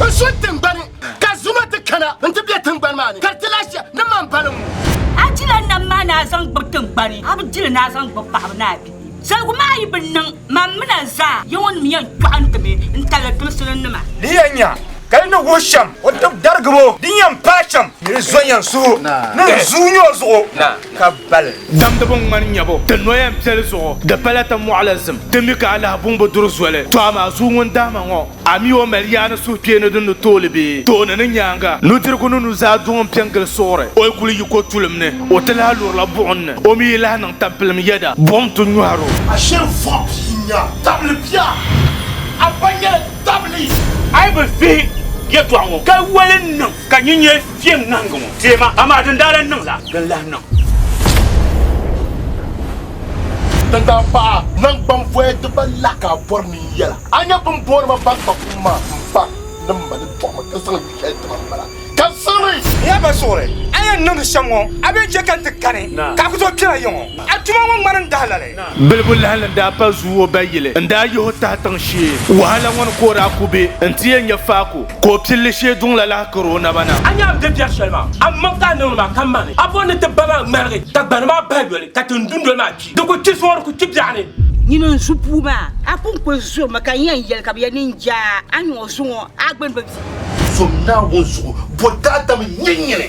N so tingbani ka zuma ti kana n ti bɛ tingbani maa ni ka ti lahi shɛ ni man baliŋ ŋɔ. A jila nam maa ni a zaŋ gbibi tingbani, a bi jili ni a zaŋ gbibi paɣaba ni a bihi. Zaligu maa yi bi niŋ, mam mini a zaa yɛŋɔnim yɛn dɔɣintimi n-taliri dimsininima. Di yɛn nya ka di ni wuhi shɛm o tib darigibo din yɛn paai shɛm ni di zo yɛn suhu ni di zuui nyɔ zuɣu. ka bali. Damdibu ŋmani nyabu ti noya n piɛli zuɣu di pala ti mɔɣu la zim ti mi ka a lahi buŋ bi duri zoli to amaa zuu ŋun dahi ma ŋɔ a mi o mali yaa ni suhukpeei ni din ni tooli bee tooni ni nyaanga nudirigu ni nuzaa duŋ n piɛ n gili suɣuri o yi kuli yi ko tulim ni o ti lahi lurila buɣim ni o mi yi lahi niŋ tampilim yɛda buɣim ti nyɔhir o. A shiri vuɣi pia n nya tabili bia a ba nyɛla tabili. A yi bi vihi yɛtɔɣa ŋɔ ka wali n niŋ ka nyin nyɛ. Kpem ŋahingi ŋɔ deei ma, amaa din daa lan niŋ la, di ni lahi niŋ. Din daa paɣi a naŋgbanvoya di ba la ka a bɔri ni n yɛl a. A nya bɛ ni booni ma baŋkpa kum maa? M ba ni m ma ni tɔɣi ma ka zaŋ yu shɛli ti ma m-bala. Ka zani! N ya ba suɣuri, a yɛn niŋdi shɛm ŋɔ, a bee chɛ ka n ti kani ka a ku tooi kpɛra yiŋɔ? A tuma ŋɔ ŋmanimi dahalali. Bilibu lahi ni daa pa zuui o ba yili n-daa yihi o tahi tiŋ shee. Wahala ŋɔ ni ka o daa ku be n-ti yɛn nya faako ka o pilli shee duŋ la lahi kari o naba na. A nya n-di biɛri shɛli maa, a mmaŋ ka a niŋdi maa ka ma ni a bo ni ti ba maa ŋmaligi ka gbani maa bahi yoli ka tin dundoli maa kpi. Di ku kpi zuŋɔ di ku kpi biɛɣu ni. Nyini n zu puu maa, a pun kul zuri mi ka n yɛn yɛli ka bɛ yɛn ni n-je a, a nyuŋɔ zuŋɔ a gbini bi di. Zom Naawuni zuɣu, bɔ daadam n-nyɛ nyini.